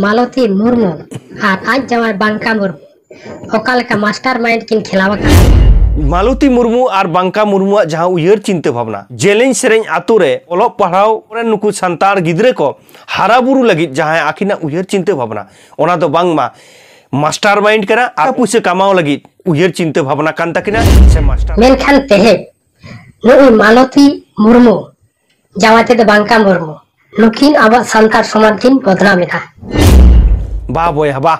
ᱢᱟᱞᱚᱛᱤ ᱢᱩᱨᱢᱩ ᱟᱨ ᱟᱡ ᱡᱟᱶᱟᱭ ᱵᱟᱝᱠᱟ ᱢᱩᱨᱢᱩ ᱚᱠᱟ ᱞᱮᱠᱟ ᱢᱟᱥᱴᱟᱨ ᱢᱟᱭᱤᱱᱰ ᱠᱤᱱ ᱠᱷᱮᱞᱟᱣ ᱟᱠᱟᱱᱟ ᱢᱟᱞᱚᱛᱤ ᱢᱩᱨᱢᱩ ᱟᱨ ᱵᱟᱝᱠᱟ ᱢᱩᱨᱢᱩᱣᱟᱜ ᱡᱟᱦᱟᱸ ᱩᱭᱦᱟᱹᱨ ᱪᱤᱱᱛᱟᱹ ᱵᱷᱟᱵᱽᱱᱟ ᱡᱮᱞᱮᱧ ᱥᱮᱨᱮᱧ ᱟᱛᱳ ᱨᱮ ᱚᱞᱚᱜ ᱯᱟᱲᱦᱟᱣ ᱨᱮᱱ ᱱᱩᱠᱩ ᱥᱟᱱᱛᱟᱲ ᱜᱤᱫᱽᱨᱟᱹ ᱠᱚ ᱦᱟᱨᱟ ᱵᱩᱨᱩ ᱞᱟᱹᱜᱤᱫ ᱡᱟᱦᱟᱸ ᱟᱹᱠᱤᱱᱟᱜ ᱩᱭᱦᱟᱹᱨ ᱪᱤᱱᱛᱟᱹ ᱵᱷᱟᱵᱽᱱᱟ ᱚᱱᱟ ᱫᱚ ᱵᱟᱝᱢᱟ ᱢᱟᱥᱴᱟᱨ ᱢᱟᱭᱤᱱᱰ ᱠᱟᱱᱟ ᱟᱨ ᱯᱩᱭᱥᱟᱹ ᱠᱟᱢᱟᱣ ᱞᱟᱹᱜᱤᱫ ᱩᱭᱦᱟᱹᱨ ᱪᱤᱱᱛᱟᱹ ᱵᱷᱟᱵᱽᱱᱟ ᱠᱟᱱ ᱛᱟᱹᱠᱤᱱᱟ ᱥᱮ ᱢᱟᱥᱴᱟᱨ ᱢᱮᱱᱠᱷᱟᱱ ᱛᱮᱦᱮᱧ ᱱᱩᱭ ᱢᱟᱞᱚᱛᱤ ᱢᱩᱨᱢᱩ ᱡᱟᱶᱟᱭ ᱛᱮᱫᱚ ᱵᱟᱝ ᱠᱟᱱ ᱢᱩᱨᱢᱩ ᱱᱩᱠᱤᱱ ᱟᱵᱚᱣᱟᱜ ᱥᱟᱱᱛᱟᱲ ᱥᱚᱢᱟᱡᱽ ᱠᱤᱱ ᱵᱚᱫᱱᱟᱢ ᱮᱫᱟ ᱵᱟ ᱵᱚᱭᱦᱟ ᱵᱟ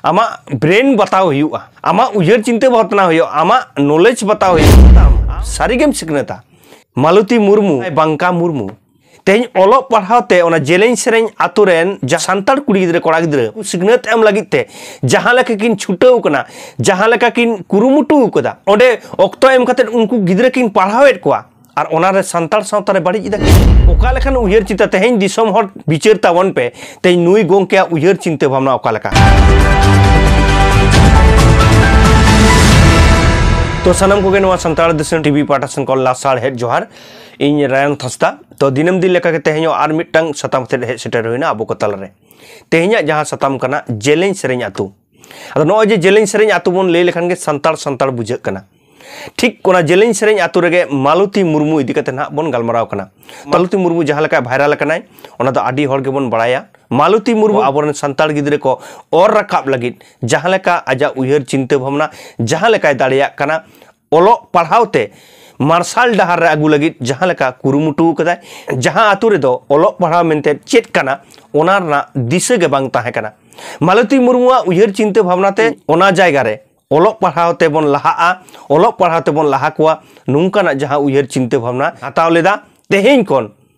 ᱟᱢᱟᱜ ᱵᱨᱮᱱ ᱵᱟᱛᱟᱣ ᱦᱩᱭᱩᱜᱼᱟ ᱟᱢᱟᱜ ᱩᱭᱦᱟᱹᱨ ᱪᱤᱱᱛᱟᱹ ᱵᱷᱟᱵᱽᱱᱟ ᱦᱩᱭᱩᱜᱼᱟ ᱟᱢᱟᱜ ᱱᱚᱞᱮᱡᱽ ᱵᱟᱛᱟᱣ ᱦᱩᱭᱩᱜᱼᱟ ᱥᱟᱹᱨᱤᱜᱮᱢ ᱥᱤᱠᱷᱱᱟᱹᱛᱟ ᱢᱟᱞᱚᱛᱤ ᱢᱩᱨᱢᱩ ᱵᱟᱝᱠᱟ ᱢᱩᱨᱢᱩ ᱛᱮᱦᱮᱧ ᱚᱞᱚᱜ ᱯᱟᱲᱦᱟᱣ ᱛᱮ ᱚᱱᱟ ᱡᱮᱞᱮᱧ ᱥᱮᱨᱮᱧ ᱟᱛᱳ ᱨᱮᱱ ᱡᱟ ᱥᱟᱱᱛᱟᱲ ᱠᱩᱲᱤ ᱜᱤᱫᱽᱨᱟᱹ ᱠᱚᱲᱟ ᱜᱤᱫᱽᱨᱟᱹ ᱥᱤᱠᱷᱱᱟᱹᱛ ᱮᱢ ᱞᱟᱹᱜᱤᱫ ᱛᱮ ᱡᱟᱦᱟᱸ ᱞᱮᱠᱟ ᱠᱤᱱ ᱪᱷᱩᱴᱟᱹᱣ ᱠᱟᱱᱟ ᱡᱟᱦᱟᱸ ᱞᱮᱠᱟ ᱠᱤᱱ ᱠᱩᱨᱩᱢᱩᱴᱩ ᱟᱠᱟᱫᱟ ᱚᱸᱰᱮ ᱚᱠᱛᱚ ᱮᱢ ᱠᱟᱛᱮ ᱩᱱᱠᱩ ᱜᱤᱫᱽᱨᱟᱹ ᱠᱤᱱ ᱯᱟᱲᱦᱟᱣᱮᱫ ᱠᱚᱣᱟ ᱟᱨ ᱚᱱᱟ ᱨᱮ ᱥᱟᱱᱛᱟᱲ ᱥᱟᱶᱛᱟ ᱨᱮ ᱵᱟᱹᱲᱤᱡ ᱮᱫᱟ ᱚᱠᱟ ᱞᱮᱠᱟᱱ ᱩᱭᱦᱟᱹᱨ ᱪᱤᱱᱛᱟᱹ ᱛᱮᱦᱮᱧ ᱫᱤᱥᱚᱢ ᱦᱚᱲ ᱵᱤᱪᱟᱹᱨ ᱛᱟᱵᱚᱱ ᱯᱮ ᱛᱮᱦᱮᱧ ᱱᱩᱭ ᱜᱚᱝᱠᱮᱭᱟᱜ ᱩᱭᱦᱟᱹᱨ ᱪᱤᱱᱛᱟᱹ ᱵᱷᱟᱵᱽᱱᱟ ᱚᱠᱟ ᱞᱮᱠᱟ ᱛᱚ ᱥᱟᱱᱟᱢ ᱠᱚᱜᱮ ᱱᱚᱣᱟ ᱥᱟᱱᱛᱟᱲ ᱫᱤᱥᱚᱢ ᱴᱤᱵᱷᱤ ᱯᱟᱦᱴᱟ ᱥᱮᱱ ᱠᱷᱚᱱ ᱞᱟᱥᱟᱲ ᱦᱮᱡ ᱡᱚᱦᱟᱨ ᱤᱧ ᱨᱟᱭᱚᱱ ᱛᱷᱟᱥᱛᱟ ᱛᱚ ᱫᱤᱱᱟᱹᱢ ᱫᱤᱱ ᱞᱮᱠᱟᱜᱮ ᱛᱮᱦᱮᱧ ᱟᱨ ᱢᱤᱫᱴᱟᱝ ᱥᱟᱛᱟᱢ ᱛᱮ ᱦᱮᱡ ᱥᱮᱴᱮᱨ ᱦᱩᱭᱱᱟ ᱟᱵᱚ ᱠᱚ ᱛᱟᱞᱟᱨᱮ ᱛᱮᱦᱮᱧᱟᱜ ᱡᱟᱦᱟᱸ ᱥᱟᱛᱟᱢ ᱠᱟᱱᱟ ᱡᱮᱞᱮᱧ ᱥᱮᱨᱮᱧ ᱟᱛᱳ ᱟᱫᱚ ᱱᱚᱜᱼᱚᱭ ᱡᱮ ᱡᱮᱞᱮᱧ ᱥᱮᱨᱮᱧ ᱟᱛᱳ ᱵᱚᱱ ᱞᱟᱹᱭ ᱞᱮᱠᱷᱟᱱ ᱜᱮ ᱥᱟᱱᱛᱟᱲ ᱥᱟᱱᱛᱟᱲ ᱵᱩᱡᱷᱟᱹᱜ ᱠᱟᱱᱟ ᱴᱷᱤᱠ ᱚᱱᱟ ᱡᱮᱞᱮᱧ ᱥᱮᱨᱮᱧ ᱟᱛᱳ ᱨᱮᱜᱮ ᱢᱟᱞᱚᱛᱤ ᱢᱩᱨᱢᱩ ᱤᱫᱤ ᱠᱟᱛᱮ ᱱᱟᱦᱟᱜ ᱵᱚᱱ ᱜᱟᱞᱢᱟᱨᱟᱣ ᱠᱟᱱᱟ ᱢᱟᱞᱚᱛᱤ ᱢᱩᱨᱢᱩ ᱡᱟᱦᱟᱸ ᱞᱮᱠᱟ ᱵᱷᱟᱭᱨᱟᱞ ᱟᱠᱟᱱᱟᱭ ᱚᱱᱟ ᱫᱚ ᱟᱹᱰᱤ ᱦᱚᱲ ᱜᱮᱵᱚᱱ ᱵᱟᱲᱟᱭᱟ ᱢᱟᱞᱚᱛᱤ ᱢᱩᱨᱢᱩ ᱟᱵᱚᱨᱮᱱ ᱥᱟᱱᱛᱟᱲ ᱜᱤᱫᱽᱨᱟᱹ ᱠᱚ ᱚᱨ ᱨᱟᱠᱟᱵ ᱞᱟᱹᱜᱤᱫ ᱡᱟᱦᱟᱸ ᱞᱮᱠᱟ ᱟᱡᱟᱜ ᱩᱭᱦᱟᱹᱨ ᱪᱤᱱᱛᱟᱹ ᱵᱷᱟᱵᱽᱱᱟ ᱡᱟᱦᱟᱸ ᱞᱮᱠᱟᱭ ᱫᱟᱲᱮᱭᱟᱜ ᱠᱟᱱᱟ ᱚᱞᱚᱜ ᱯᱟᱲᱦᱟᱣ ᱛᱮ ᱢᱟᱨᱥᱟᱞ ᱰᱟᱦᱟᱨ ᱨᱮ ᱟᱹᱜᱩ ᱞᱟᱹᱜᱤᱫ ᱡᱟᱦᱟᱸ ᱞᱮᱠᱟ ᱠᱩᱨᱩᱢᱩᱴᱩ ᱟᱠᱟᱫᱟᱭ ᱡᱟᱦᱟᱸ ᱟᱛᱳ ᱨᱮᱫᱚ ᱚᱞᱚᱜ ᱯᱟᱲᱦᱟᱣ ᱢᱮᱱᱛᱮ ᱪᱮᱫ ᱠᱟᱱᱟ ᱚᱱᱟ ᱨᱮᱱᱟᱜ ᱫᱤᱥᱟᱹ ᱜᱮ ᱵᱟᱝ ᱛᱟᱦᱮᱸ ᱠᱟᱱᱟ ᱢᱟᱞᱚᱛᱤ ᱢᱩᱨᱢᱩᱣᱟᱜ ᱩᱭᱦᱟᱹᱨ ᱪᱤᱱᱛᱟᱹ ᱵᱷᱟᱵᱽᱱᱟ ᱛᱮ ᱚᱱᱟ ᱡᱟᱭᱜᱟ ᱨᱮ ᱚᱞᱚᱜ ᱯᱟᱲᱦᱟᱣ ᱛᱮᱵᱚᱱ ᱞᱟᱦᱟᱜᱼᱟ ᱚᱞᱚᱜ ᱯᱟᱲᱦᱟᱣ ᱛᱮᱵᱚᱱ ᱞᱟᱦᱟ ᱠᱚᱣᱟ ᱱᱚᱝᱠᱟᱱᱟᱜ ᱡᱟᱦᱟᱸ ᱩᱭᱦᱟᱹᱨ ᱪᱤᱱᱛᱟᱹ ᱵᱷᱟᱵᱽᱱᱟ ᱦᱟᱛᱟᱣ ᱞᱮᱫᱟ ᱛᱮᱦᱮᱧ ᱠᱷᱚᱱ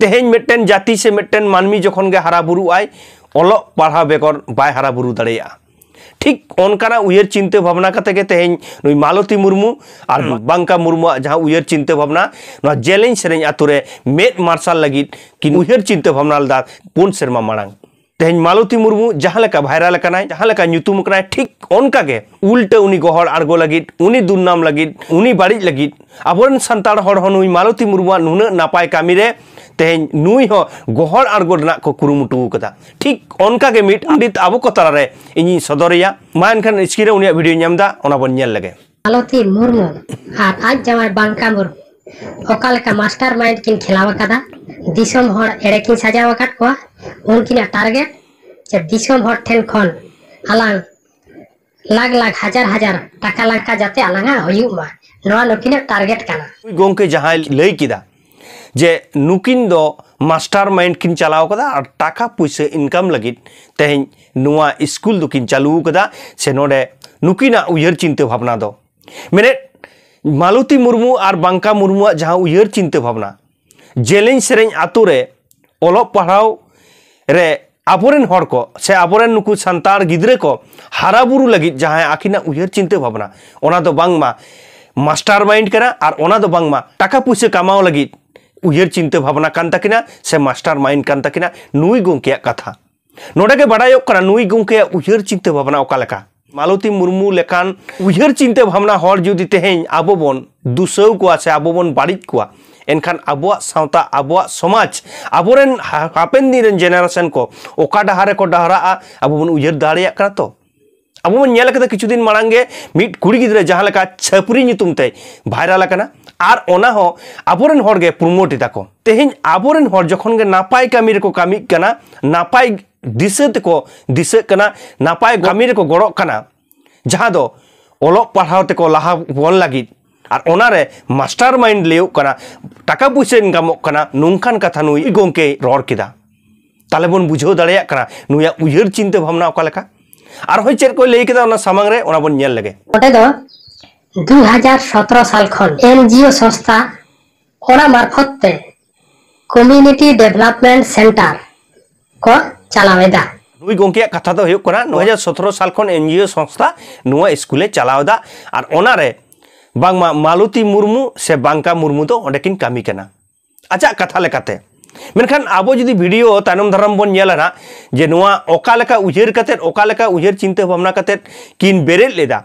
ᱛᱮᱦᱮᱧ ᱢᱤᱫᱴᱮᱱ ᱡᱟᱹᱛᱤ ᱥᱮ ᱢᱤᱫᱴᱮᱱ ᱢᱟᱹᱱᱢᱤ ᱡᱚᱠᱷᱚᱱ ᱜᱮ ᱦᱟᱨᱟ ᱵᱩᱨᱩᱜ ᱟᱭ ᱚᱞᱚᱜ ᱯᱟᱲᱦᱟᱣ ᱵᱮᱜᱚᱨ ᱵᱟᱭ ᱦᱟᱨᱟ ᱵᱩᱨᱩ ᱫᱟᱲᱮᱭᱟᱜᱼᱟ ᱴᱷᱤᱠ ᱚᱱᱠᱟᱱᱟᱜ ᱩᱭᱦᱟᱹᱨ ᱪᱤᱱᱛᱟᱹ ᱵᱷᱟᱵᱽᱱᱟ ᱠᱟᱛᱮ ᱜᱮ ᱛᱮᱦᱮᱧ ᱱᱩᱭ ᱢᱟᱞᱚᱛᱤ ᱢᱩᱨᱢᱩ ᱟᱨ ᱵᱟᱝᱠᱟ ᱢᱩᱨᱢᱩᱣᱟᱜ ᱡᱟᱦᱟᱸ ᱩᱭᱦᱟᱹᱨ ᱪᱤᱱᱛᱟᱹ ᱵᱷᱟᱵᱽᱱᱟ ᱱᱚᱣᱟ ᱡᱮᱞᱮᱧ ᱥᱮᱨᱮᱧ ᱟᱛᱳ ᱨᱮ ᱢᱮᱫ ᱢᱟᱨᱥᱟᱞ ᱞᱟᱹᱜᱤᱫ ᱠᱤᱱ ᱩᱭᱦᱟᱹᱨ ᱪᱤᱱᱛᱟᱹ ᱵᱷᱟᱵᱽᱱᱟ ᱞᱮᱫᱟ ᱯᱩᱱ ᱥᱮᱨᱢᱟ ᱢᱟᱲᱟᱝ ᱛᱮᱦᱮᱧ ᱢᱟᱞᱚᱛᱤ ᱢᱩᱨᱢᱩ ᱡᱟᱦᱟᱸ ᱞᱮᱠᱟ ᱵᱷᱟᱭᱨᱟᱞ ᱟᱠᱟᱱᱟᱭ ᱡᱟᱦᱟᱸ ᱞᱮᱠᱟ ᱧᱩᱛᱩᱢ ᱟᱠᱟᱱᱟᱭ ᱴᱷᱤᱠ ᱚᱱᱠᱟ ᱜᱮ ᱩᱞᱴᱟᱹ ᱩᱱᱤ ᱜᱚᱦᱚᱲ ᱟᱬᱜᱚ ᱞᱟᱹᱜᱤᱫ ᱩᱱᱤ ᱫᱩᱨᱱᱟᱢ ᱞᱟᱹᱜᱤᱫ ᱩᱱᱤ ᱵᱟᱹᱲᱤᱡ ᱞᱟᱹᱜᱤᱫ ᱟᱵᱚᱨᱮᱱ ᱥᱟᱱᱛᱟᱲ ᱦᱚᱲ ᱦᱚᱸ ᱱᱩᱭ ᱢᱟᱞᱚᱛᱤ ᱢᱩᱨᱢᱩᱣᱟᱜ ᱱᱩᱱᱟᱹᱜ ᱱᱟᱯᱟᱭ ᱠᱟᱹᱢᱤ ᱨᱮ ᱛᱮᱦᱮᱧ ᱱᱩᱭ ᱦᱚᱸ ᱜᱚᱦᱚᱲ ᱟᱬᱜᱚ ᱨᱮᱱᱟᱜ ᱠᱚ ᱠᱩᱨᱩᱢᱩᱴᱩ ᱟᱠᱟᱫᱟ ᱴᱷᱤᱠ ᱚᱱᱠᱟ ᱜᱮ ᱢᱤᱫ ᱯᱚᱸᱰᱤᱛ ᱟᱵᱚ ᱠᱚ ᱛᱟᱞᱟᱨᱮ ᱤᱧᱤᱧ ᱥᱚᱫᱚᱨᱮᱭᱟ ᱢᱟ ᱮᱱᱠᱷᱟᱱ ᱥᱠᱨᱤᱱ ᱨᱮ ᱩᱱᱤᱭᱟᱜ ᱵᱷᱤᱰᱤᱭᱳᱧ ᱮᱢ ᱮᱫᱟ ᱚᱱᱟ ᱵᱚᱱ ᱧᱮᱞ ᱞᱮᱜᱮ ᱢᱟᱞᱚᱛᱤ ᱢᱩᱨᱢᱩ ᱟᱨ ᱟᱡ ᱡᱟᱶᱟᱭ ᱵᱟᱝᱠᱟ ᱢᱩᱨᱢᱩ ᱚᱠᱟ ᱞᱮᱠᱟ ᱢᱟᱥᱴᱟᱨ ᱢᱟᱭᱤᱱᱰ ᱠᱤᱱ ᱠᱷᱮᱞᱟᱣ ᱟᱠᱟᱫᱟ ᱫᱤᱥᱚᱢ ᱦᱚᱲ ᱮᱲᱮ ᱠᱤᱱ ᱥᱟᱡᱟᱣ ᱟᱠᱟᱫ ᱠᱚᱣᱟ ᱩᱱᱠᱤᱱᱟᱜ ᱴᱟᱨᱜᱮᱴ ᱡᱮ ᱫᱤᱥᱚᱢ ᱦᱚᱲ ᱴᱷᱮᱱ ᱠᱷᱚᱱ ᱟᱞᱟᱝ ᱞᱟᱠᱷ ᱞᱟᱠᱷ ᱦᱟᱡᱟᱨ ᱦᱟᱡᱟᱨ ᱴᱟᱠᱟ ᱞᱟᱝᱠᱟ ᱡᱟᱛᱮ ᱟᱞᱟᱝᱟᱜ ᱦᱩᱭᱩᱜ ᱢᱟ ᱱᱚᱣᱟ ᱱᱩᱠᱤᱱᱟᱜ ᱴᱟᱨᱜᱮᱴ ᱠᱟᱱᱟ ᱜᱚᱝᱠᱮ ᱡᱟᱦᱟᱸᱭ ᱞᱟᱹᱭ ᱠᱮᱫᱟ ᱡᱮ ᱱᱩᱠᱤᱱ ᱫᱚ ᱢᱟᱥᱴᱟᱨ ᱢᱟᱭᱤᱱᱰ ᱠᱤᱱ ᱪᱟᱞᱟᱣ ᱠᱟᱫᱟ ᱟᱨ ᱴᱟᱠᱟ ᱯᱩᱭᱥᱟᱹ ᱤᱱᱠᱟᱢ ᱞᱟᱹᱜᱤᱫ ᱛᱮᱦᱮᱧ ᱱᱚᱣᱟ ᱥᱠᱩᱞ ᱫᱚᱠᱤᱱ ᱪᱟᱹᱞᱩ ᱠᱟᱫᱟ ᱥᱮ ᱱᱚᱰᱮ ᱱᱩᱠᱤᱱᱟᱜ ᱩᱭᱦᱟᱹᱨ ᱪᱤᱱᱛᱟᱹ ᱵᱷᱟᱵᱽᱱᱟ ᱫᱚ ᱢᱮᱱᱮᱫ ᱢᱟᱞᱚᱛᱤ ᱢᱩᱨᱢᱩ ᱟᱨ ᱵᱟᱝᱠᱟ ᱢᱩᱨᱢᱩᱣᱟᱜ ᱡᱟᱦᱟᱸ ᱩᱭᱦᱟᱹᱨ ᱪᱤᱱᱛᱟᱹ ᱵᱷᱟᱵᱽᱱᱟ ᱡᱮᱞᱮᱧ ᱥᱮᱨᱮᱧ ᱟᱛᱳ ᱨᱮ ᱚᱞᱚᱜ ᱯᱟᱲᱦᱟᱣ ᱨᱮ ᱟᱵᱚᱨᱮᱱ ᱦᱚᱲ ᱠᱚ ᱥᱮ ᱟᱵᱚᱨᱮᱱ ᱱᱩᱠᱩ ᱥᱟᱱᱛᱟᱲ ᱜᱤᱫᱽᱨᱟᱹ ᱠᱚ ᱦᱟᱨᱟ ᱵᱩᱨᱩ ᱞᱟᱹᱜᱤᱫ ᱡᱟᱦᱟᱸᱭ ᱟᱹᱠᱤᱱᱟᱜ ᱩᱭᱦᱟᱹᱨ ᱪᱤᱱᱛᱟᱹ ᱵᱷᱟᱵᱽᱱᱟ ᱚᱱᱟ ᱫᱚ ᱵᱟᱝᱢᱟ ᱢᱟᱥᱴᱟᱨ ᱢᱟᱭᱤᱱᱰ ᱠᱟᱱᱟ ᱟᱨ ᱚᱱᱟ ᱫᱚ ᱵᱟᱝᱢᱟ ᱴᱟᱠᱟ ᱯᱩᱭᱥᱟᱹ ᱠᱟᱢᱟᱣ ᱞᱟᱹᱜᱤᱫ ᱩᱭᱦᱟᱹᱨ ᱪᱤᱱᱛᱟᱹ ᱵᱷᱟᱵᱽᱱᱟ ᱠᱟᱱ ᱛᱟᱹᱠᱤᱱᱟ ᱥᱮ ᱢᱟᱥᱴᱟᱨ ᱢᱟᱭᱤᱱᱰ ᱠᱟᱱ ᱛᱟᱹᱠᱤᱱᱟ ᱱᱩᱭ ᱜᱚᱢᱠᱮᱭᱟᱜ ᱠᱟᱛᱷᱟ ᱱᱚᱰᱮ ᱜᱮ ᱵᱟᱰᱟᱭᱚᱜ ᱠᱟᱱᱟ ᱱᱩᱭ ᱜᱚᱢᱠᱮᱭᱟᱜ ᱩᱭᱦᱟᱹᱨ ᱪᱤᱱᱛᱟᱹ ᱵᱷᱟᱵᱽᱱᱟ ᱚᱠᱟ ᱞᱮᱠᱟ ᱢᱟᱞᱚᱛᱤ ᱢᱩᱨᱢᱩ ᱞᱮᱠᱟᱱ ᱩᱭᱦᱟᱹᱨ ᱪᱤᱱᱛᱟᱹ ᱵᱷᱟᱵᱽᱱᱟ ᱦᱚᱲ ᱡᱩᱫᱤ ᱛᱮᱦᱮᱧ ᱟᱵᱚ ᱵᱚᱱ ᱫᱩᱥᱟᱹᱣ ᱠᱚᱣᱟ ᱥᱮ ᱟᱵᱚ ᱵᱚᱱ ᱵᱟᱹᱲᱤᱡ ᱠᱚᱣᱟ ᱮᱱᱠᱷᱟᱱ ᱟᱵᱚᱣᱟᱜ ᱥᱟᱶᱛᱟ ᱟᱵᱚᱣᱟᱜ ᱥᱚᱢᱟᱡᱽ ᱟᱵᱚᱨᱮᱱ ᱦᱟᱯᱮᱱ ᱫᱤᱱ ᱨᱮᱱ ᱡᱮᱱᱟᱨᱮᱥᱚᱱ ᱠᱚ ᱚᱠᱟ ᱰᱟᱦᱟᱨ ᱨᱮᱠᱚ ᱰᱟᱦᱨᱟᱜᱼᱟ ᱟᱵᱚ ᱵᱚᱱ ᱩᱭᱦᱟᱹᱨ ᱫᱟᱲᱮᱭᱟᱜ ᱠᱟᱱᱟ ᱛᱚ ᱟᱵᱚ ᱵᱚᱱ ᱧᱮᱞ ᱠᱟᱫᱟ ᱠᱤᱪᱷᱩ ᱫᱤᱱ ᱢᱟᱲᱟᱝ ᱜᱮ ᱢᱤᱫ ᱠᱩᱲᱤ ᱜᱤᱫᱽᱨᱟᱹ ᱡᱟᱦᱟᱸ ᱞᱮᱠᱟ ᱪᱷᱟᱹᱯᱨᱤ ᱧᱩᱛᱩᱢ ᱛᱮ ᱵᱷᱟᱭᱨᱟᱞ ᱟᱠᱟᱱᱟ ᱟᱨ ᱚᱱᱟ ᱦᱚᱸ ᱟᱵᱚᱨᱮᱱ ᱦᱚᱲ ᱜᱮ ᱯᱨᱳᱢᱳᱴ ᱮᱫᱟ ᱠᱚ ᱛᱮᱦᱮᱧ ᱟᱵᱚᱨᱮᱱ ᱦᱚᱲ ᱡᱚᱠᱷᱚᱱ ᱜᱮ ᱱᱟᱯᱟᱭ ᱠᱟᱹᱢᱤ ᱨᱮᱠᱚ ᱠᱟᱹᱢᱤᱜ ᱠᱟᱱᱟ ᱱᱟᱯᱟᱭ ᱫᱤᱥᱟᱹ ᱛᱮᱠᱚ ᱫᱤᱥᱟᱹᱜ ᱠᱟᱱᱟ ᱱᱟᱯᱟᱭ ᱠᱟᱹᱢᱤ ᱨᱮᱠᱚ ᱜᱚᱲᱚᱜ ᱠᱟᱱᱟ ᱡᱟᱦᱟᱸ ᱫᱚ ᱚᱞᱚᱜ ᱯᱟᱲᱦᱟᱣ ᱛᱮᱠᱚ ᱞᱟᱦᱟ ᱵᱚᱱ ᱞᱟᱹᱜᱤᱫ ᱟᱨ ᱚᱱᱟᱨᱮ ᱢᱟᱥᱴᱟᱨ ᱢᱟᱭᱤᱱᱰ ᱞᱟᱹᱭᱚᱜ ᱠᱟᱱᱟ ᱴᱟᱠᱟ ᱯᱩᱭᱥᱟᱹ ᱤᱱᱠᱟᱢᱚᱜ ᱠᱟᱱᱟ ᱱᱚᱝᱠᱟᱱ ᱠᱟᱛᱷᱟ ᱱᱩᱭ ᱜᱚᱝᱠᱮᱭ ᱨᱚᱲ ᱠᱮᱫᱟ ᱛᱟᱦᱞᱮ ᱵᱚᱱ ᱵᱩᱡᱷᱟᱹᱣ ᱫᱟᱲᱮᱭᱟᱜ ᱠᱟᱱᱟ ᱱᱩᱭᱟᱜ ᱩᱭᱦᱟᱹᱨ ᱪᱤᱱᱛᱟᱹ ᱵᱷᱟᱵᱽᱱᱟ ᱚᱠᱟ ᱞᱮᱠᱟ ᱟᱨᱦᱚᱸ ᱪᱮᱫ ᱠᱚᱭ ᱞᱟᱹᱭ ᱠᱮᱫᱟ ᱚᱱᱟ ᱥᱟᱢᱟᱝ ᱨᱮ ᱚᱱᱟ ᱵᱚᱱ ᱧᱮᱞ ᱞᱮᱜᱮ ᱚᱸᱰᱮ ᱫᱚ ᱫᱩ ᱦᱟᱡᱟᱨ ᱥᱚᱛᱨᱚ ᱥᱟᱞ ᱠᱷᱚᱱ ᱮᱱ ᱡᱤ ᱳ ᱥᱚᱝᱥᱛᱷᱟ ᱚᱱᱟ ᱢᱟᱨᱯᱷᱚᱛ ᱛᱮ ᱠᱚᱢᱤᱭᱩᱱᱤᱴᱤ ᱰᱮᱵᱷᱞᱚᱯᱢᱮᱱᱴ ᱥᱮᱱᱴᱟᱨ ᱠᱚ ᱪᱟᱞᱟᱣ ᱮᱫᱟ᱾ ᱱᱩᱭ ᱜᱚᱝᱠᱮᱭᱟᱜ ᱠᱟᱛᱷᱟ ᱫᱚ ᱦᱩᱭᱩᱜ ᱠᱟᱱᱟ ᱫᱩ ᱦᱟᱡᱟᱨ ᱥᱚᱛᱨᱚ ᱥᱟᱞ ᱠᱷᱚᱱ ᱮᱱᱡᱤᱳ ᱥᱚᱝᱥᱛᱷᱟ ᱱᱚᱣᱟ ᱤᱥᱠᱩᱞ ᱮ ᱪᱟᱞᱟᱣ ᱮᱫᱟ ᱟᱨ ᱚᱱᱟ ᱨᱮ ᱵᱟᱝᱢᱟ ᱢᱟᱞᱚᱛᱤ ᱢᱩᱨᱢᱩ ᱥᱮ ᱵᱟᱝᱠᱟ ᱢᱩᱨᱢᱩ ᱫᱚ ᱚᱸᱰᱮ ᱠᱤᱱ ᱠᱟᱹᱢᱤ ᱠᱟᱱᱟ ᱟᱡᱟᱜ ᱠᱟᱛᱷᱟ ᱞᱮᱠᱟᱛᱮ᱾ ᱢᱮᱱᱠᱷᱟᱱ ᱟᱵᱚ ᱡᱩᱫᱤ ᱵᱷᱤᱰᱤᱭᱳ ᱛᱟᱭᱱᱚᱢ ᱫᱟᱨᱟᱢ ᱵᱚᱱ ᱧᱮᱞᱟ ᱱᱟᱜ ᱡᱮ ᱱᱚᱣᱟ ᱚᱠᱟ ᱞᱮᱠᱟ ᱩᱭᱦᱟᱹᱨ ᱠᱟᱛᱮ ᱚᱠᱟ ᱞᱮᱠᱟ ᱩᱭᱦᱟᱹᱨ ᱪᱤᱱᱛᱟᱹ ᱵᱷᱟᱵᱽᱱᱟ ᱠᱟᱛᱮ ᱠᱤᱱ ᱵᱮᱨᱮᱫ ᱞᱮᱫᱟ᱾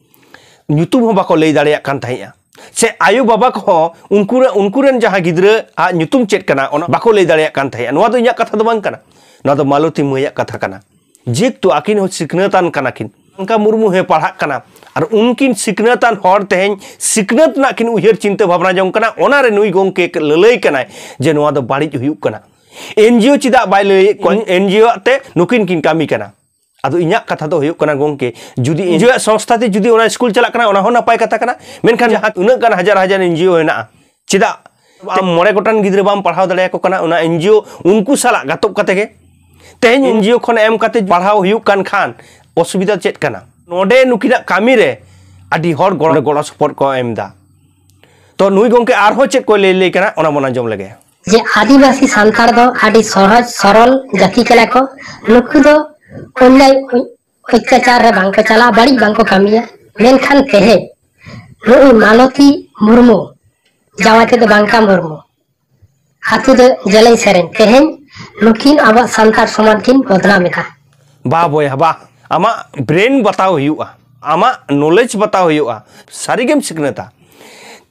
ᱧᱩᱛᱩᱢ ᱦᱚᱸ ᱵᱟᱠᱚ ᱞᱟᱹᱭ ᱫᱟᱲᱮᱭᱟᱜ ᱠᱟᱱ ᱛᱟᱦᱮᱸᱫᱼᱟ ᱥᱮ ᱟᱭᱳ ᱵᱟᱵᱟ ᱠᱚᱦᱚᱸ ᱩᱱᱠᱩ ᱩᱱᱠᱩ ᱨᱮᱱ ᱡᱟᱦᱟᱸ ᱜᱤᱫᱽᱨᱟᱹ ᱟᱜ ᱧᱩᱛᱩᱢ ᱪᱮᱫ ᱠᱟᱱᱟ ᱚᱱᱟ ᱵᱟᱠᱚ ᱞᱟᱹᱭ ᱫᱟᱲᱮᱭᱟᱜ ᱠᱟᱱ ᱛᱟᱦᱮᱸᱫᱼᱟ ᱱᱚᱣᱟ ᱫᱚ ᱤᱧᱟᱹᱜ ᱠᱟᱛᱷᱟ ᱫᱚ ᱵᱟᱝ ᱠᱟᱱᱟ ᱱᱚᱣᱟ ᱫᱚ ᱢᱟᱞᱚᱛᱤ ᱢᱟᱹᱭᱟᱜ ᱠᱟᱛᱷᱟ ᱠᱟᱱᱟ ᱡᱮᱦᱮᱛᱩ ᱟᱹᱠᱤᱱ ᱦᱚᱸ ᱥᱤᱠᱷᱱᱟᱹᱛᱟᱱ ᱠᱟᱱᱟ ᱠᱤᱱ ᱚᱱᱠᱟ ᱢᱩᱨᱢᱩ ᱦᱚᱸ ᱯᱟᱲᱦᱟᱜ ᱠᱟᱱᱟ ᱟᱨ ᱩᱱᱠᱤᱱ ᱥᱤᱠᱷᱱᱟᱹᱛᱟᱱ ᱦᱚᱲ ᱛᱮᱦᱮᱧ ᱥᱤᱠᱷᱱᱟᱹᱛ ᱨᱮᱱᱟᱜ ᱠᱤᱱ ᱩᱭᱦᱟᱹᱨ ᱪᱤᱱᱛᱟᱹ ᱵᱷᱟᱵᱽᱱᱟ ᱡᱚᱝ ᱠᱟᱱᱟ ᱚᱱᱟ ᱨᱮ ᱱᱩᱭ ᱜᱚᱝᱠᱮ ᱞᱟᱹᱞᱟᱹᱭ ᱠᱟᱱᱟᱭ ᱡᱮ ᱱᱚᱣᱟ ᱫᱚ ᱵᱟᱹᱲᱤᱡ ᱦᱩᱭᱩᱜ ᱠᱟᱱᱟ ᱮᱱᱡᱤᱭᱳ ᱪᱮᱫᱟᱜ ᱵᱟᱭ ᱞᱟᱹᱭᱮᱫ ᱠᱚᱣᱟ ᱮᱱᱡᱤᱭᱳ ᱟᱜ ᱛᱮ ᱱᱩᱠᱤᱱ ᱠᱤᱱ ᱠᱟᱹᱢᱤ ᱠᱟᱱᱟ ᱟᱫᱚ ᱤᱧᱟᱹᱜ ᱠᱟᱛᱷᱟ ᱫᱚ ᱦᱩᱭᱩᱜ ᱠᱟᱱᱟ ᱜᱚᱝᱠᱮ ᱡᱩᱫᱤ ᱮᱱᱡᱤᱭᱳ ᱥᱚᱝᱥᱛᱷᱟ ᱛᱮ ᱡᱩᱫᱤ ᱚᱱᱟ ᱥᱠᱩᱞ ᱪᱟᱞᱟᱜ ᱠᱟᱱᱟ ᱚᱱᱟ ᱦᱚᱸ ᱱᱟᱯᱟᱭ ᱠᱟᱛᱷᱟ ᱠᱟᱱᱟ ᱢᱮᱱᱠᱷᱟᱱ ᱡᱟᱦᱟᱸ ᱩᱱᱟᱹᱜ ᱜᱟᱱ ᱦᱟᱡᱟᱨ ᱦᱟᱡᱟᱨ ᱮᱱᱡᱤᱭᱳ ᱦᱮᱱᱟᱜᱼᱟ ᱪᱮᱫᱟᱜ ᱟᱢ ᱢᱚᱬᱮ ᱜᱚᱴᱟᱱ ᱜᱤᱫᱽᱨᱟᱹ ᱵᱟᱢ ᱯᱟᱲᱦᱟᱣ ᱫᱟᱲᱮᱭᱟᱠᱚ ᱠᱟᱱᱟ ᱚᱱᱟ ᱮᱱᱡᱤᱭᱳ ᱩᱱᱠᱩ ᱥᱟᱞᱟᱜ ᱜᱟᱛᱚᱜ ᱠᱟᱛᱮ ᱜᱮ ᱛᱮᱦᱮᱧ ᱮᱱᱡᱤᱭᱳ ᱠᱷᱚᱱ ᱮᱢ ᱠᱟᱛᱮ ᱯᱟᱲᱦᱟᱣ ᱦᱩᱭᱩᱜ ᱠᱟᱱ ᱠᱷᱟᱱ ᱚᱥᱩᱵᱤᱫᱷᱟ ᱪᱮᱫ ᱠᱟᱱᱟ ᱱᱚᱰᱮ ᱱᱩᱠᱤᱱᱟᱜ ᱠᱟᱹᱢᱤ ᱨᱮ ᱟᱹᱰᱤ ᱦᱚᱲ ᱜᱚᱲᱚ ᱜᱚᱲᱚ ᱥᱚᱯᱚᱦᱚᱫ ᱠᱚ ᱮᱢ ᱮᱫᱟ ᱛᱚ ᱱᱩᱭ ᱜᱚᱝᱠᱮ ᱟᱨᱦᱚᱸ ᱪᱮᱫ ᱠᱚ ᱞᱟᱹᱭ ᱞᱟᱹᱭ ᱠᱟᱱᱟ ᱚᱱᱟ ᱵᱚᱱ ᱟᱸᱡᱚᱢ ᱞᱮᱜᱮ ᱡᱮ ᱟᱹᱫᱤᱵᱟᱹᱥᱤ ᱥᱟᱱᱛᱟᱲ ᱫᱚ ᱟᱹᱰᱤ ᱥᱚᱦᱚᱡ ᱥᱚᱨᱚᱞ ᱡᱟᱹᱛᱤ ᱠᱟᱱᱟ ᱠᱚ ᱱᱩᱠᱩ ᱫᱚ ᱚᱱᱞᱟᱭ ᱚᱛᱛᱟᱪᱟᱨ ᱨᱮ ᱵᱟᱝᱠᱚ ᱪᱟᱞᱟᱜ ᱵᱟᱹᱲᱤᱡ ᱵᱟᱝᱠᱚ ᱠᱟᱹᱢᱤᱭᱟ ᱢᱮᱱᱠᱷᱟᱱ ᱛᱮᱦᱮᱧ ᱱᱩᱭ ᱢᱟᱞᱚᱛᱤ ᱢᱩᱨᱢᱩ ᱡᱟᱶᱟᱭ ᱛᱮᱫᱚ ᱵᱟᱝᱠᱟ ᱢᱩᱨᱢᱩ ᱟᱛᱳ ᱫᱚ ᱡᱮᱞᱮᱧ ᱥᱮᱨᱮᱧ ᱛᱮᱦᱮᱧ ᱱᱩᱠᱤᱱ ᱟᱵᱚᱣᱟᱜ ᱥᱟᱱᱛᱟᱲ ᱥᱚᱢᱟᱡᱽ ᱠᱤᱱ ᱵᱚᱫᱱᱟᱢ ᱮᱫᱟ ᱵᱟ ᱵᱚᱭᱦᱟ ᱵᱟ ᱟᱢᱟᱜ ᱵᱨᱮᱱ ᱵᱟᱛᱟᱣ ᱦᱩᱭᱩᱜᱼᱟ ᱟᱢᱟᱜ ᱱᱚᱞᱮᱡᱽ ᱵᱟᱛᱟᱣ ᱦᱩᱭᱩᱜᱼᱟ ᱥᱟᱹᱨᱤᱜᱮᱢ ᱥᱤᱠᱷᱱᱟᱹᱛᱟ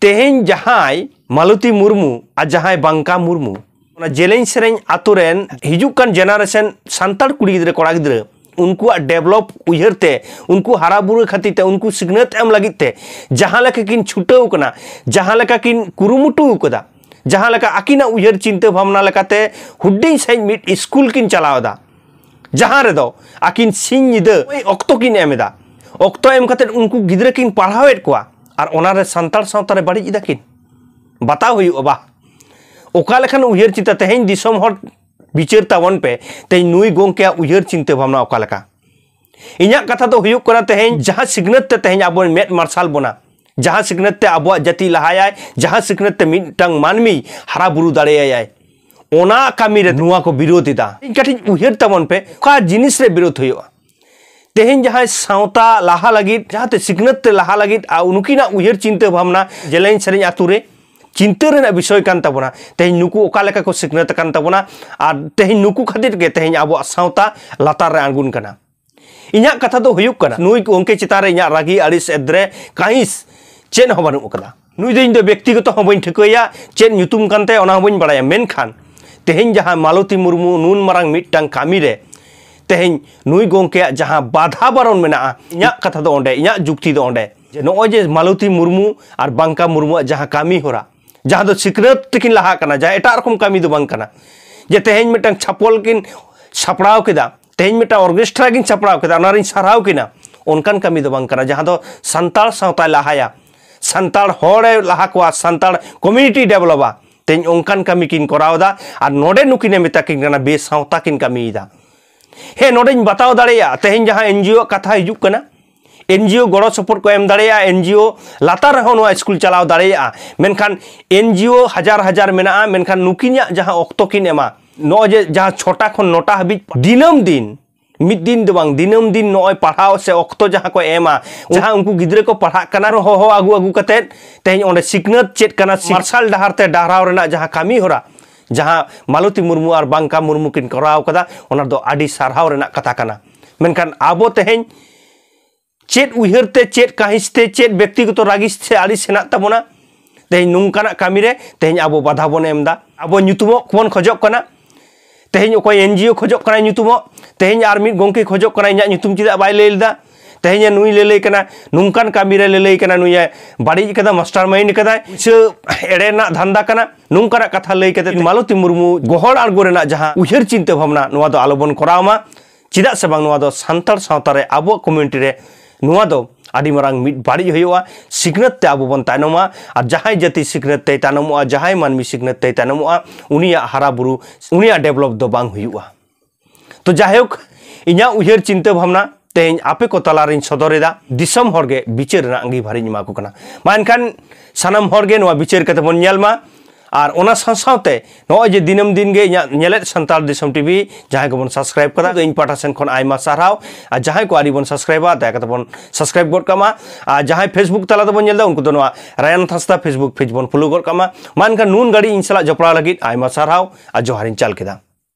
ᱛᱮᱦᱮᱧ ᱡᱟᱦᱟᱸᱭ ᱢᱟᱞᱚᱛᱤ ᱢᱩᱨᱢᱩ ᱟᱨ ᱡᱟᱦᱟᱸᱭ ᱵᱟᱝᱠᱟ ᱢᱩᱨᱢᱩ ᱚᱱᱟ ᱡᱮᱞᱮᱧ ᱥᱮᱨᱮᱧ ᱟᱛᱳ ᱨᱮᱱ ᱦᱤᱡᱩᱜ ᱠᱟᱱ ᱡᱮᱱᱟᱨᱮᱥᱚᱱ ᱥᱟᱱᱛᱟᱲ ᱠᱩᱲᱤ ᱜᱤᱫᱽᱨᱟᱹ ᱠᱚᱲᱟ ᱜᱤᱫᱽᱨᱟᱹ ᱩᱱᱠᱩᱣᱟᱜ ᱰᱮᱵᱷᱞᱚᱯ ᱩᱭᱦᱟᱹᱨ ᱛᱮ ᱩᱱᱠᱩ ᱦᱟᱨᱟ ᱵᱩᱨᱩ ᱠᱷᱟᱹᱛᱤᱨ ᱛᱮ ᱩᱱᱠᱩ ᱥᱤᱠᱷᱱᱟᱹᱛ ᱮᱢ ᱞᱟᱹᱜᱤᱫ ᱛᱮ ᱡᱟᱦᱟᱸ ᱞᱮᱠᱟ ᱠᱤᱱ ᱪᱷᱩᱴᱟᱹᱣ ᱠᱟᱱᱟ ᱡᱟᱦᱟᱸ ᱞᱮᱠᱟ ᱠᱤᱱ ᱠᱩᱨᱩᱢᱩᱴᱩ ᱟᱠᱟᱫᱟ ᱡᱟᱦᱟᱸ ᱞᱮᱠᱟ ᱟᱹᱠᱤᱱᱟᱜ ᱩᱭᱦᱟᱹᱨ ᱪᱤᱱᱛᱟᱹ ᱵᱷᱟᱵᱽᱱᱟ ᱞᱮᱠᱟᱛᱮ ᱦᱩᱰᱤᱧ ᱥᱟᱺᱦᱤᱡ ᱢᱤᱫ ᱥᱠᱩᱞ ᱠᱤᱱ ᱪᱟᱞᱟᱣ ᱮᱫᱟ ᱡᱟᱦᱟᱸ ᱨᱮᱫᱚ ᱟᱹᱠᱤᱱ ᱥᱤᱧ ᱧᱤᱫᱟᱹ ᱚᱠᱛᱚ ᱠᱤᱱ ᱮᱢ ᱮᱫᱟ ᱚᱠᱛᱚ ᱮᱢ ᱠᱟᱛᱮ ᱩᱱᱠᱩ ᱜᱤᱫᱽᱨᱟᱹ ᱠᱤᱱ ᱯᱟᱲᱦᱟᱣᱮᱫ ᱠᱚᱣᱟ ᱟᱨ ᱚᱱᱟᱨᱮ ᱥᱟᱱᱛᱟᱲ ᱥᱟᱶᱛᱟ ᱨᱮ ᱵᱟᱹᱲᱤᱡ ᱮᱫᱟ ᱠᱤᱱ ᱵᱟᱛᱟᱣ ᱦᱩᱭᱩᱜᱼᱟ ᱵᱟ ᱚᱠᱟ ᱞᱮᱠᱟᱱ ᱩᱭᱦᱟᱹᱨ ᱪᱤᱱᱛᱟᱹ ᱛᱮᱦᱮᱧ ᱫᱤᱥᱚᱢ ᱦᱚᱲ ᱵᱤᱪᱟᱹᱨ ᱛᱟᱵᱚᱱ ᱯᱮ ᱛᱮᱦᱮᱧ ᱱᱩᱭ ᱜᱚᱝᱠᱮᱭᱟᱜ ᱩᱭᱦᱟᱹᱨ ᱪᱤᱱᱛᱟᱹ ᱵᱷᱟᱵᱽᱱᱟ ᱚᱠᱟ ᱞᱮᱠᱟ ᱤᱧᱟᱹᱜ ᱠᱟᱛᱷᱟ ᱫᱚ ᱦᱩᱭᱩᱜ ᱠᱟᱱᱟ ᱛᱮᱦᱮᱧ ᱡᱟᱦᱟᱸ ᱥᱤᱠᱷᱱᱟᱹᱛ ᱛᱮ ᱛᱮᱦᱮᱧ ᱟᱵᱚ ᱢᱮᱫ ᱢᱟᱨᱥᱟᱞ ᱵᱚᱱᱟ ᱡᱟᱦᱟᱸ ᱥᱤᱠᱷᱱᱟᱹᱛ ᱛᱮ ᱟᱵᱚᱣᱟᱜ ᱡᱟᱹᱛᱤ ᱞᱟᱦᱟᱭᱟᱭ ᱡᱟᱦᱟᱸ ᱥᱤᱠᱷᱱᱟᱹᱛ ᱛᱮ ᱢᱤᱫᱴᱟᱝ ᱢᱟᱹᱱᱢᱤ ᱦᱟᱨᱟ ᱵᱩᱨᱩ ᱫᱟᱲᱮᱭᱟᱭᱟᱭ ᱚᱱᱟ ᱠᱟᱹᱢᱤ ᱨᱮ ᱱᱚᱣᱟ ᱠᱚ ᱵᱤᱨᱳᱫ ᱮᱫᱟ ᱤᱧ ᱠᱟᱹᱴᱤᱡ ᱩᱭᱦᱟᱹᱨ ᱛᱟᱵᱚᱱ ᱯᱮ ᱚᱠᱟ ᱡᱤᱱᱤᱥ ᱨᱮ ᱵᱤᱨᱳᱫ ᱦᱩᱭᱩᱜᱼᱟ ᱛᱮᱦᱮᱧ ᱡᱟᱦᱟᱸᱭ ᱥᱟᱶᱛᱟ ᱞᱟᱦᱟ ᱞᱟᱹᱜᱤᱫ ᱡᱟᱦᱟᱸᱛᱮ ᱥᱤᱠᱷᱱᱟᱹᱛ ᱛᱮ ᱞᱟᱦᱟ ᱞᱟᱹᱜᱤᱫ ᱩᱱᱠᱤᱱᱟᱜ ᱩᱭᱦᱟᱹᱨ ᱪᱤᱱᱛᱟᱹ ᱵᱷᱟᱵᱽᱱᱟ ᱡᱮᱞᱮᱧ ᱥᱮᱨᱮᱧ ᱟᱛᱳ ᱨᱮ ᱪᱤᱱᱛᱟᱹ ᱨᱮᱱᱟᱜ ᱵᱤᱥᱚᱭ ᱠᱟᱱ ᱛᱟᱵᱚᱱᱟ ᱛᱮᱦᱮᱧ ᱱᱩᱠᱩ ᱚᱠᱟ ᱞᱮᱠᱟ ᱠᱚ ᱥᱤᱠᱷᱱᱟᱹᱛ ᱟᱠᱟᱱ ᱛᱟᱵᱚᱱᱟ ᱟᱨ ᱛᱮᱦᱮᱧ ᱱᱩᱠᱩ ᱠᱷᱟᱹᱛᱤᱨ ᱜᱮ ᱛᱮᱦᱮᱧ ᱟᱵᱚᱣᱟᱜ ᱥᱟᱶᱛᱟ ᱞᱟᱛᱟᱨ ᱨᱮ ᱟᱬᱜᱩᱱ ᱠᱟᱱᱟ ᱤᱧᱟᱹᱜ ᱠᱟᱛᱷᱟ ᱫᱚ ᱦᱩᱭᱩᱜ ᱠᱟᱱᱟ ᱱᱩᱭ ᱜᱚᱝᱠᱮ ᱪᱮᱛᱟᱱ ᱨᱮ ᱤᱧᱟᱹᱜ ᱨᱟᱹᱜᱤ ᱟᱹᱲᱤᱥ ᱮᱫᱽᱨᱮ ᱠᱟᱹᱦᱤᱥ ᱪᱮᱫ ᱦᱚᱸ ᱵᱟᱹᱱᱩᱜ ᱟᱠᱟᱫᱟ ᱱᱩᱭ ᱫᱚ ᱤᱧ ᱫᱚ ᱵᱮᱠᱛᱤᱜᱚᱛᱚ ᱦᱚᱸ ᱵᱟᱹᱧ ᱴᱷᱤᱠᱟᱹᱭᱟ ᱪᱮᱫ ᱧᱩᱛᱩᱢ ᱠᱟᱱ ᱛᱟᱭᱟ ᱚᱱᱟ ᱦᱚᱸ ᱵᱟᱹᱧ ᱵᱟᱲᱟᱭᱟ ᱢᱮᱱᱠᱷᱟᱱ ᱛᱮᱦᱮᱧ ᱡᱟᱦᱟᱸ ᱢᱟᱞᱚᱛᱤ ᱢᱩᱨᱢᱩ ᱱᱩᱱ ᱢᱟᱨᱟᱝ ᱢᱤᱫᱴᱟᱝ ᱠᱟᱹᱢᱤ ᱨᱮ ᱛᱮᱦᱮᱧ ᱱᱩᱭ ᱜᱚᱝᱠᱮᱭᱟᱜ ᱡᱟᱦᱟᱸ ᱵᱟᱫᱷᱟ ᱵᱟᱨᱚᱱ ᱢᱮᱱᱟᱜᱼᱟ ᱤᱧᱟᱹᱜ ᱠᱟᱛᱷᱟ ᱫᱚ ᱚᱸᱰᱮ ᱤᱧᱟᱹᱜ ᱡᱩᱠᱛᱤ ᱫᱚ ᱚᱸᱰᱮ ᱡᱮ ᱱᱚᱜᱼᱚᱭ ᱡᱮ ᱢᱟᱞᱚᱛᱤ ᱢᱩᱨᱢᱩ ᱟᱨ ᱵᱟᱝᱠᱟ ᱢᱩᱨᱢᱩᱣᱟᱜ ᱡᱟᱦᱟᱸ ᱠᱟᱹᱢᱤ ᱦᱚᱨᱟ ᱡᱟᱦᱟᱸ ᱫᱚ ᱥᱤᱠᱷᱱᱟᱹᱛ ᱛᱮᱠᱤᱱ ᱞᱟᱦᱟ ᱠᱟᱱᱟ ᱡᱟᱦᱟᱸ ᱮᱴᱟᱜ ᱨᱚᱠᱚᱢ ᱠᱟᱹᱢᱤ ᱫᱚ ᱵᱟᱝ ᱠᱟᱱᱟ ᱡᱮ ᱛᱮᱦᱮᱧ ᱢᱤᱫᱴᱟᱝ ᱪᱷᱟᱯᱚᱞ ᱠᱤᱱ ᱥᱟᱯᱲᱟᱣ ᱠᱮᱫᱟ ᱛᱮᱦᱮᱧ ᱢᱤᱫᱴᱟᱝ ᱚᱨᱠᱮᱥᱴᱨᱟ ᱠᱤᱱ ᱥᱟᱯᱲᱟᱣ ᱠᱮᱫᱟ ᱚᱱᱟ ᱨᱤᱧ ᱥᱟᱨᱦᱟᱣ ᱠᱤᱱᱟ ᱚᱱᱠᱟᱱ ᱠᱟᱹᱢᱤ ᱫᱚ ᱵᱟᱝ ᱠᱟᱱᱟ ᱡᱟᱦᱟᱸ ᱫᱚ ᱥᱟᱱᱛᱟᱲ ᱥᱟᱶᱛᱟᱭ ᱞᱟᱦᱟᱭᱟ ᱥᱟᱱᱛᱟᱲ ᱦᱚᱲᱮ ᱞᱟᱦᱟ ᱠᱚᱣᱟ ᱥᱟᱱᱛᱟᱲ ᱠᱚᱢᱤউᱱᱤᱴᱤ ᱰᱮᱵᱷᱞᱚᱯᱟ ᱛᱮᱦᱮᱧ ᱚᱱᱠᱟᱱ ᱠᱟᱹᱢᱤ ᱠᱤᱱ ᱠᱚᱨᱟᱣᱫᱟ ᱟᱨ ᱱᱚᱰᱮ ᱱᱩᱠᱤᱱᱮ ᱢᱮᱛᱟ ᱠᱤᱱ ᱠᱟᱱᱟ ᱵᱮᱥᱟᱶᱛᱟ ᱠᱤᱱ ᱠᱟᱹᱢᱤᱭᱮᱫᱟ ᱦᱮᱸ ᱱᱚᱰᱮᱧ ᱵᱟᱛᱟᱣ ᱫᱟᱲᱮᱭᱟᱜᱼᱟ ᱛᱮᱦᱮᱧ ᱡᱟᱦᱟᱸ ᱮᱱᱡᱤᱭᱳ ᱟᱜ ᱠᱟᱛᱷᱟ ᱦᱤᱡᱩᱜ ᱠᱟᱱᱟ ᱮᱱᱡᱤᱭᱳ ᱜᱚᱲᱚ ᱥᱚᱯᱚᱦᱚᱫ ᱠᱚ ᱮᱢ ᱫᱟᱲᱮᱭᱟᱜᱼᱟ ᱮᱱᱡᱤᱭᱳ ᱞᱟᱛᱟᱨ ᱨᱮᱦᱚᱸ ᱱᱚᱣᱟ ᱥᱠᱩᱞ ᱪᱟᱞᱟᱣ ᱫᱟᱲᱮᱭᱟᱜᱼᱟ ᱢᱮᱱᱠᱷᱟᱱ ᱮᱱᱡᱤᱭᱳ ᱦᱟᱡᱟᱨ ᱦᱟᱡᱟᱨ ᱢᱮᱱᱟᱜᱼᱟ ᱢᱮᱱᱠᱷᱟᱱ ᱱᱩᱠᱤᱱᱟᱜ ᱡᱟᱦᱟᱸ ᱚᱠᱛᱚ ᱠᱤᱱ ᱮᱢᱟ ᱱᱚᱜᱼᱚᱭ ᱡᱮ ᱡᱟᱦᱟᱸ ᱪᱷᱚᱴᱟ ᱠᱷᱚᱱ ᱱᱚᱴᱟ ᱦᱟᱹᱵᱤᱡ ᱫᱤᱱᱟᱹᱢ ᱫᱤᱱ ᱢᱤᱫ ᱫᱤᱱ ᱫᱚ ᱵᱟᱝ ᱫᱤᱱᱟᱹᱢ ᱫᱤᱱ ᱱᱚᱜᱼᱚᱭ ᱯᱟᱲᱦᱟᱣ ᱥᱮ ᱚᱠᱛᱚ ᱡᱟᱦᱟᱸ ᱠᱚ ᱮᱢᱟ ᱡᱟᱦᱟᱸ ᱩᱱᱠᱩ ᱜᱤᱫᱽᱨᱟᱹ ᱠᱚ ᱯᱟᱲᱦᱟᱜ ᱠᱟᱱᱟ ᱦᱚᱦᱚ ᱟᱹᱜᱩ ᱟᱹᱜᱩ ᱠᱟᱛᱮ ᱛᱮᱦᱮᱧ ᱚᱸᱰᱮ ᱥᱤᱠᱷᱱᱟᱹᱛ ᱪᱮᱫ ᱠᱟᱱᱟ ᱢᱟᱨᱥᱟᱞ ᱰᱟᱦᱟᱨ ᱛᱮ ᱰᱟᱦᱨᱟᱣ ᱨᱮᱱᱟᱜ ᱡᱟᱦᱟᱸ ᱠᱟᱹᱢᱤ ᱦᱚᱨᱟ ᱡᱟᱦᱟᱸ ᱢᱟᱞᱚᱛᱤ ᱢᱩᱨᱢᱩ ᱟᱨ ᱵᱟᱝᱠᱟ ᱢᱩᱨᱢᱩ ᱠᱤᱱ ᱠᱚᱨᱟᱣ ᱠᱟᱫᱟ ᱚᱱᱟ ᱫᱚ ᱟᱹᱰᱤ ᱥᱟᱨᱦᱟᱣ ᱨᱮᱱᱟᱜ ᱠᱟᱛᱷᱟ ᱠᱟᱱᱟ ᱢᱮᱱᱠᱷᱟᱱ ᱟᱵᱚ ᱛᱮᱦᱮᱧ ᱪᱮᱫ ᱩᱭᱦᱟᱹᱨ ᱛᱮ ᱪᱮᱫ ᱠᱟᱹᱦᱤᱥ ᱛᱮ ᱪᱮᱫ ᱵᱮᱠᱛᱤᱜᱚᱛᱚ ᱨᱟᱹᱜᱤᱥ ᱥᱮ ᱟᱹᱲᱤᱥ ᱦᱮᱱᱟᱜ ᱛᱟᱵᱚᱱᱟ ᱛᱮᱦᱮᱧ ᱱᱚᱝᱠᱟᱱᱟᱜ ᱠᱟᱹᱢᱤ ᱨᱮ ᱛᱮᱦᱮᱧ ᱟᱵᱚ ᱵᱟᱫᱷᱟ ᱵᱚᱱ ᱮᱢ ᱮᱫᱟ ᱟᱵᱚ ᱧᱩᱛᱩᱢᱚᱜ ᱵᱚᱱ ᱠᱷᱚᱡᱚᱜ ᱠᱟᱱᱟ ᱛᱮᱦᱮᱧ ᱚᱠᱚᱭ ᱮᱱᱡᱤᱳ ᱠᱷᱚᱡᱚᱜ ᱠᱟᱱᱟᱭ ᱧᱩᱛᱩᱢᱚᱜ ᱛᱮᱦᱮᱧ ᱟᱨ ᱢᱤᱫ ᱜᱚᱝᱠᱮ ᱠᱷᱚᱡᱚᱜ ᱠᱟᱱᱟᱭ ᱤᱧᱟᱹᱜ ᱧᱩᱛᱩᱢ ᱪᱮᱫᱟᱜ ᱵᱟᱭ ᱞᱟᱹᱭ ᱞᱮᱫᱟ ᱛᱮᱦᱮᱧ ᱱᱩᱭ ᱞᱟᱹᱞᱟᱹᱭ ᱠᱟᱱᱟ ᱱᱚᱝᱠᱟᱱ ᱠᱟᱹᱢᱤ ᱨᱮ ᱞᱟᱹᱞᱟᱹᱭ ᱠᱟᱱᱟ ᱱᱩᱭ ᱵᱟᱹᱲᱤᱡ ᱠᱟᱫᱟ ᱢᱟᱥᱴᱟᱨ ᱢᱟᱭᱤᱱᱰ ᱠᱟᱫᱟᱭ ᱥᱮ ᱮᱲᱮ ᱨᱮᱱᱟᱜ ᱫᱷᱟᱱᱫᱟ ᱠᱟᱱᱟ ᱱᱚᱝᱠᱟᱱᱟᱜ ᱠᱟᱛᱷᱟ ᱞᱟᱹᱭ ᱠᱟᱛᱮ ᱢᱟᱞᱚᱛᱤ ᱢᱩᱨᱢᱩ ᱜᱚᱦᱚᱲ ᱟᱬᱜᱚ ᱨᱮᱱᱟᱜ ᱡᱟᱦᱟᱸ ᱩᱭᱦᱟᱹᱨ ᱪᱤᱱᱛᱟᱹ ᱵᱷᱟᱵᱽᱱᱟ ᱱᱚᱣᱟ ᱫᱚ ᱟᱞᱚᱵᱚᱱ ᱠᱚᱨᱟᱣ ᱢᱟ ᱪᱮᱫᱟᱜ ᱥᱮ ᱵᱟᱝ ᱱᱚᱣᱟ ᱫᱚ ᱥᱟᱱᱛᱟᱲ ᱥᱟᱶᱛᱟ ᱨᱮ ᱟᱵᱚᱣᱟᱜ ᱠᱚᱢᱤᱭᱩᱱᱤᱴᱤ ᱨᱮ ᱱᱚᱣᱟ ᱫᱚ ᱟᱹᱰᱤ ᱢᱟᱨᱟᱝ ᱢᱤᱫ ᱵᱟᱹᱲᱤᱡ ᱦᱩᱭᱩᱜᱼᱟ ᱥᱤᱠᱷᱱᱟᱹᱛ ᱛᱮ ᱟᱵᱚ ᱵᱚᱱ ᱛᱟᱭᱱᱚᱢᱟ ᱟᱨ ᱡᱟᱦᱟᱸᱭ ᱡᱟᱹᱛᱤ ᱥᱤᱠᱷᱱᱟᱹᱛ ᱛᱮᱭ ᱛᱟᱭᱱᱚᱢᱚᱜᱼᱟ ᱡᱟᱦᱟᱸᱭ ᱢᱟᱹᱱᱢᱤ ᱥᱤᱠᱷᱱᱟᱹᱛ ᱛᱮᱭ ᱛᱟᱭᱱᱚᱢᱚᱜᱼᱟ ᱩᱱᱤᱭᱟᱜ ᱦᱟᱨᱟ ᱵᱩᱨᱩ ᱩᱱᱤᱭᱟᱜ ᱰᱮᱵᱷᱞᱚᱯ ᱫᱚ ᱵᱟᱝ ᱦᱩᱭᱩᱜᱼᱟ ᱛᱚ ᱡᱟᱭᱦᱳᱠ ᱤᱧᱟᱹᱜ ᱩᱭᱦᱟᱹᱨ ᱪᱤᱱᱛᱟᱹ ᱵᱷᱟᱵᱽᱱᱟ ᱛᱮᱦᱮᱧ ᱟᱯᱮ ᱠᱚ ᱛᱟᱞᱟᱨᱤᱧ ᱥᱚᱫᱚᱨᱮᱫᱟ ᱫᱤᱥᱚᱢ ᱦᱚᱲᱜᱮ ᱵᱤᱪᱟᱹᱨ ᱨᱮᱱᱟᱜ ᱟᱸᱜᱤᱵᱷᱟᱨᱤᱧ ᱮᱢᱟ ᱠᱚ ᱠᱟᱱᱟ ᱢᱟ ᱮᱱᱠᱷᱟᱱ ᱥᱟᱱᱟᱢ ᱦᱚᱲᱜᱮ ᱱᱚᱣᱟ ᱵᱤᱪᱟᱹᱨ ᱠᱟᱛᱮ ᱵᱚᱱ ᱧᱮᱞ ᱢᱟ ᱟᱨ ᱚᱱᱟ ᱥᱟᱶ ᱥᱟᱶᱛᱮ ᱱᱚᱜᱼᱚᱭ ᱡᱮ ᱫᱤᱱᱟᱹᱢ ᱫᱤᱱ ᱜᱮ ᱤᱧᱟᱹᱜ ᱧᱮᱞᱮᱫ ᱥᱟᱱᱛᱟᱲ ᱫᱤᱥᱚᱢ ᱴᱤᱵᱷᱤ ᱡᱟᱦᱟᱸᱭ ᱠᱚᱵᱚᱱ ᱥᱟᱵᱥᱠᱨᱟᱭᱤᱵ ᱠᱟᱫᱟ ᱤᱧ ᱯᱟᱦᱴᱟ ᱥᱮᱱ ᱠᱷᱚᱱ ᱟᱭᱢᱟ ᱥᱟᱨᱦᱟᱣ ᱟᱨ ᱡᱟᱦᱟᱸᱭ ᱠᱚ ᱟᱹᱣᱨᱤ ᱵᱚᱱ ᱥᱟᱵᱥᱠᱨᱟᱭᱤᱵᱟ ᱫᱟᱭᱟ ᱠᱟᱛᱮ ᱵᱚᱱ ᱥᱟᱵᱥᱠᱨᱟᱭᱤᱵ ᱜᱚᱫ ᱠᱟᱜ ᱢᱟ ᱟᱨ ᱡᱟᱦᱟᱸᱭ ᱯᱷᱮᱥᱵᱩᱠ ᱛᱟᱞᱟ ᱛᱮᱵᱚᱱ ᱧᱮᱞ ᱮᱫᱟ ᱩᱱᱠᱩ ᱫᱚ ᱱᱚᱣᱟ ᱨᱟᱭᱟᱱ ᱦᱟᱸᱥᱫᱟ ᱯᱷᱮᱥᱵᱩᱠ ᱯᱮᱡᱽ ᱵᱚᱱ ᱯᱷᱚᱞᱳ ᱜᱚᱫ ᱠᱟᱜ ᱢᱟ ᱢᱟ ᱮᱱᱠᱷᱟᱱ ᱱᱩᱱ ᱜᱷᱟᱹᱲᱤᱡ ᱤᱧ ᱥᱟᱞᱟᱜ ᱡᱚᱯᱲᱟᱣ ᱞᱟᱹᱜᱤᱫ ᱟᱭᱢᱟ ᱥᱟᱨᱦᱟᱣ ᱟᱨ ᱡᱚᱦᱟᱨᱤᱧ ᱪᱟᱞ ᱠᱮᱫᱟ